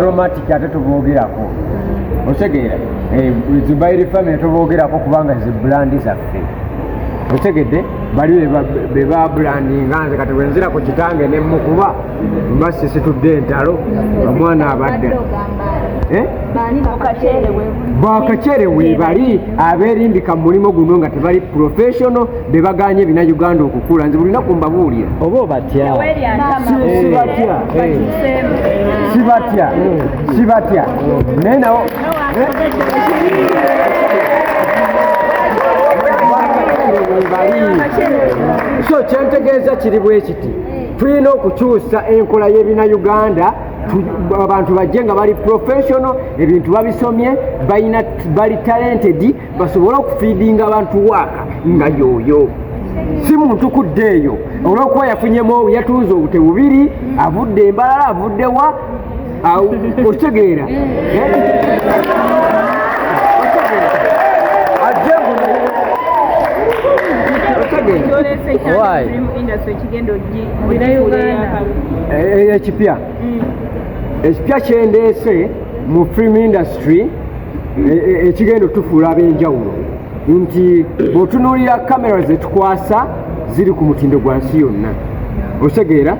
aromatic ate tuboogerako otegeera eh, zubairi family tuboogerako kubanga ze bulandi zaffe otegedde bali bebabulandinga nze kati bwenzira ku kitange nemukuba mba sisitudde entalo omwana abadde eh? bakacere webali aberimbika mu mulimu guno nga tebali professional bebaganye bina uganda okukula nze bulina kumbabuulira oba obatya sibatya sibatya sibatya naye nawo so kyentegeeza kiri bwe kiti tulina okukyusa enkola y'ebina uganda abantu bajje nga bali professional ebintu babisomye balina bali talented basobole okufiidinga abantu waaka nga yooyo si muntu kudde eyo olwokuba yafunyemu yatunze obute bubiri avudde embalala avudde wa okitegeera ekipya ekipya kyendeese mu film industry e, e, ekigenda otufuula ab'enjawulo nti bw'otunuulira kamera zetukwasa ziri ku mutindo gwa nsi yonna otegeera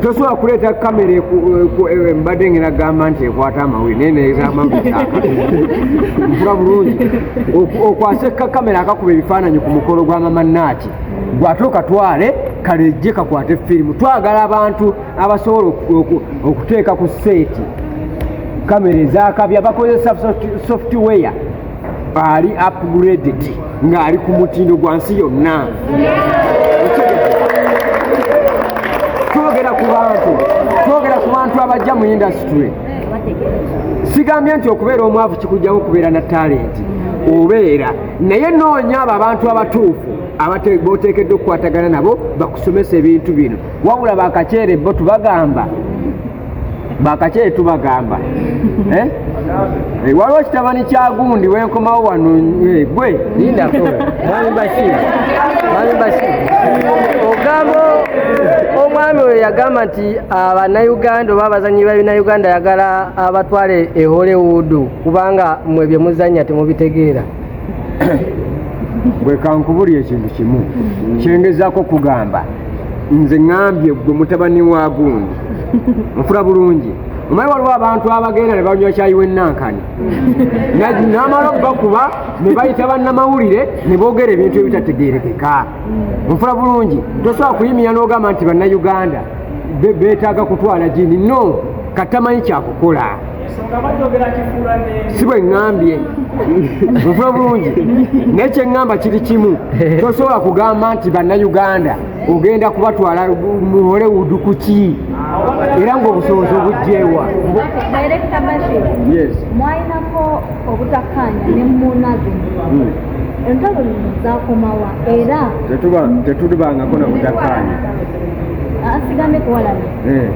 tosobola kuleeta kamera eh, mbadde ngenagamba nti ekwata amawuli naye nezamamula bulungi okwasa eka kamera akakuba ebifaananyi ku mukolo gwa mamanaaki gwate okatwale kalejje kakwate firimu twagala abantu abasobola okuteeka ku seeti kamera ezakabya bakozesa software ali upgraded ng'ali ku mutindo gwa nsi yonna twogera ku bantu twogera ku bantu abajja mu indasitule sigambye nti okubeera omwavu kikujjamu okubeera na talenti obeera naye noonya abo abantu abatuufu boteekeddwa okukwatagana nabo bakusomesa ebintu bino wabula bakaceere bo tubagamba bakaceere tubagamba eh? eh, waliwo kitabani kya gundi wenkomawo wano eh, gwe ogamba omwami oyo yagamba nti abanayuganda ah, oba abazanyi babinauganda yagala abatwale e hollywood kubanga mwe byemuzanya temubitegeera bwe kankubulira ekintu kimu kyengezaako okugamba nze ŋambye gwe mutabani wa gundi nfula bulungi omanyi waliwo abantu abagenda ne banywa kyayi wenankani namala okubakuba ne bayita bannamawulire ne boogera ebintu ebitategerekeka nfula bulungi tosobola kuyimira n'ogamba nti bannayuganda betaaga kutwala gini no katamanyi kyakukola si bwe ŋŋambye nva bulungi naye kye ŋŋamba kiri kimu tosobola kugamba nti bannayuganda ogenda kubatwala mu hollywood ku ki era ng'obusobozi obugyewa mwalinako obutakkaanya ne munazi hmm. entalo lino zakomawa era tetulibangako na butakkaanya asigambe kuwalana eh.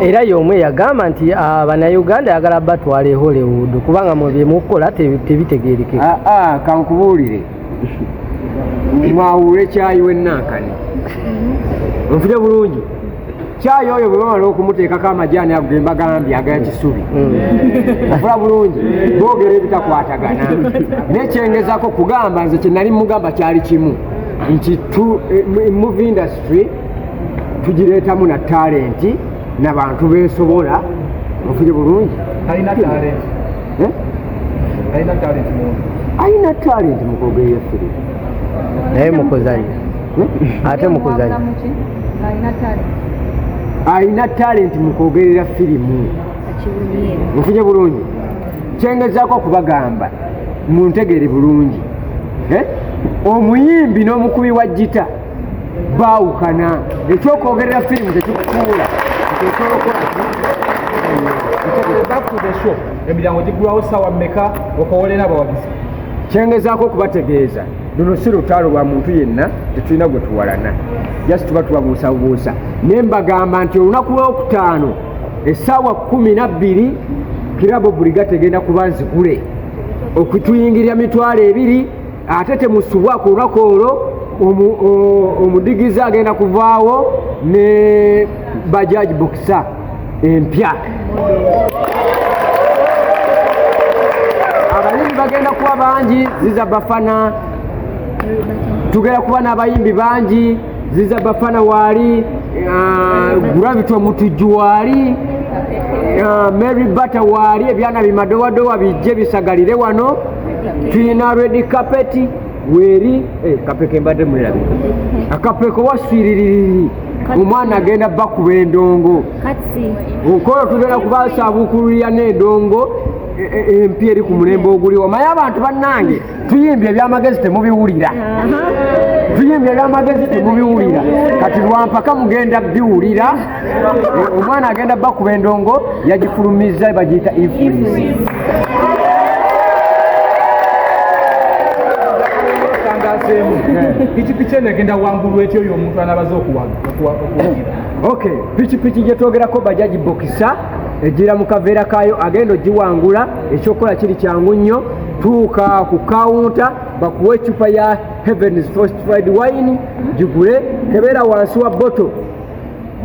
era y'omu eyagamba nti ah, bannayuganda ayagala batwala e hollywood kubanga mu byemukukola tebitegeerekeka ah, ah, kankubuulire mwawuula ekyayi w'ennankani nfire bulungi kyayi oyo bwe bamala okumuteekako amajaani ago ge mbagambye agaya kisubi mm. ofula bulungi boogera ebitakwatagana nekyengezako kugamba nze kye nali mugamba kyali kimu nti eh, movie industry tugireetamu na talenti nabantu besobola mufire bulungi alina talenti eh? alina talenti mukogeyeefire naye mukuzanya eh? ate mukuzanya alina talenti mukwogerera firimu mufire bulungi kyengezaako okubagamba muntegere bulungi eh? omuyimbi n'omukubi wa jita baawukana ekyokwogerera firimu tekikufuula emiryango gigulawo saawa meka okowolera abawagizi kyengezaako okubategeeza luno si lutaalo lwa muntu yenna tetulina gwe tuwalana jasi tuba tubabuusabuusa naye mbagamba nti olunaku lwokutaano essaawa kumi nabbiri kirabo buliga tegenda kuba nzigule okutuyingirira mitwalo ebiri ate temusubwa ku lunaku olwo omudigizi agenda kuvaawo ne bajaji bokisa empya abayimbi bagenda kuba bangi ziza bafana tugenda kuba n'abayimbi bangi ziza bafana waali ah, gravity omutujju waali ah, mary batter waali ebyana bimadowadowa bijje bisagalire wano tulina redi kapeti weeri eh, kapeko embadde mulirabi akapeko waswiririri omwana agenda bakuba endongo okola tugenda kubasabukululira n'endongo e, e, e, empya eri ku mulembe oguliwo maye abantu bannange tuyimbye ebyamagezi temubiwulira tuyimbye ebyamagezi temubiwulira kati lwampaka mugenda biwulira eh, omwana agenda bakuba endongo yagifulumizza bagiyita influence pikipiki eno egenda wangulwa etya oyo omuntu anabaza okuwagira ok pikipiki gyetwogerako bajaji bokisa ejira mu kaveera kaayo agenda ogiwangula ekyokukola kiri kyangu nnyo tuuka ku kawunta bakuwa ecupa ya heavens fortified wine gigule kebeera wansi wa boto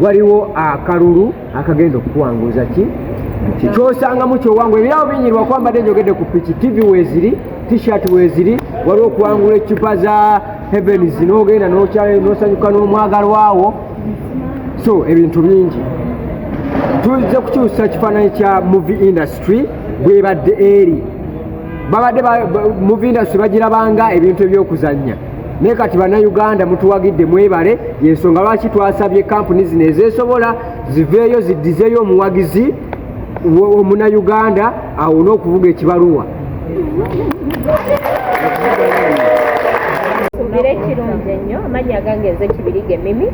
waliwo akalulu akagenda okukuwanguza ki kyosangamu kyowangu ebirabo binyirwa kwambadde njogedde ku piki tv weziri t-shirt weziri waliwo okuwangula ecupa za heavens nogenda nosanyuka n'omwagalwawo so ebintu bingi tuzze kukyusa kifaananyi kya movie industry bwebadde eri babadde muvindasi bagirabanga ebintu ebyokuzannya naye kati bannayuganda mutuwagidde mwebale yensonga lwaki twasabye kampuni zino ezesobola ziveeyo ziddizeyo omuwagizi omunayuganda awone okuvuga ekibaluwa suubira ekirungi ennyo amanyi agange nze kibirige mimi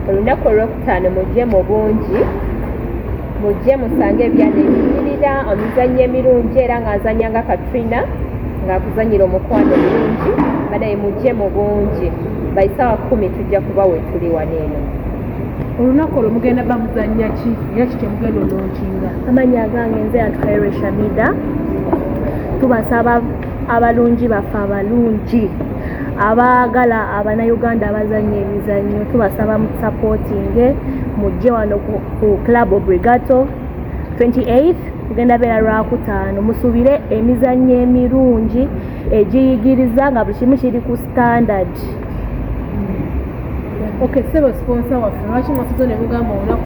olunaku olwokutaano mujje mu bungi mujje musange ebyana ebinyirira omizannyo emirungi era nga nzanya nga katrina ngaakuzanyira omukwano omulungi banaye mujje mu bungi baisawa kumi tujja kuba wetuli wano eno olunaku olwo mugenda bamuzanya ki era kikyemugenda olonkinga amanya agange nze atukaire shamida tubasaba abalungi baffe abalungi abaagala abanauganda abazanya emizannyo tubasaba musapotinge mujje wano ku club obrigato 28 kugenda beera lwakutaano musubire emizannyo emirungi egiyigiriza nga buli kimu kiri ku standard okay, sebo sponsor waffe lwaki mwasizo ne mugamba olunaku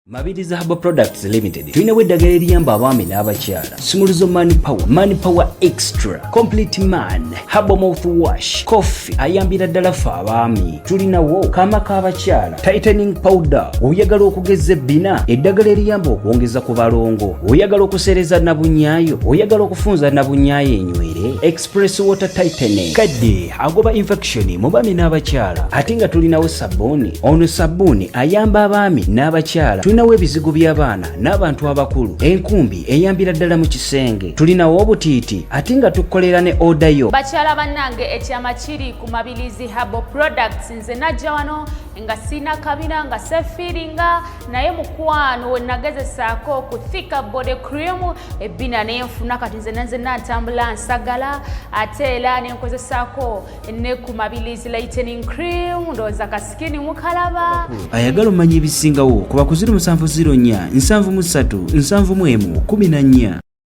Mabirizi Herbal Products Limited tulinawo eddagala eriyamba abaami n'abakyala Sumuluzo Man Power, Man Power Extra, Complete Man, Herbal Mouthwash, Coffee ayambira ddala ffe abaami. Tulinawo kaama k'abakyala, Tightening Powder, oyagala okugeza ebbina, eddagala eriyamba okwongeza ku balongo, oyagala okuseereza nabunyaayo, oyagala okufunza nabunyaayo enywere, Express Water Tightening, kadde agoba infection mu baami n'abakyala. Ate nga tulinawo sabbuuni, ono sabbuuni ayamba abaami n'abakyala. Tulinawo ebizigo by'abaana n'abantu abakulu, enkumbi eyambira ddala mu kisenge tulinawo obutiiti ate nga tukolera ne oda yo bakyala bannange ekyama kiri ku mabilizi habo products nze najja wano nga sirina kabina nga sefiiringa naye mukwano wenagezesaako ku thika body cream ebbina nenfuna kati nze nanze nantambula nsagala ate era nenkozesaako ne ku mabilizi lightening cream ndowooza kasikini mukalaba ayagala omanya ebisingawo ku bakuziri musanvu ziro nnya nsanvu mu ssatu nsanvu mu emu kumi na nnya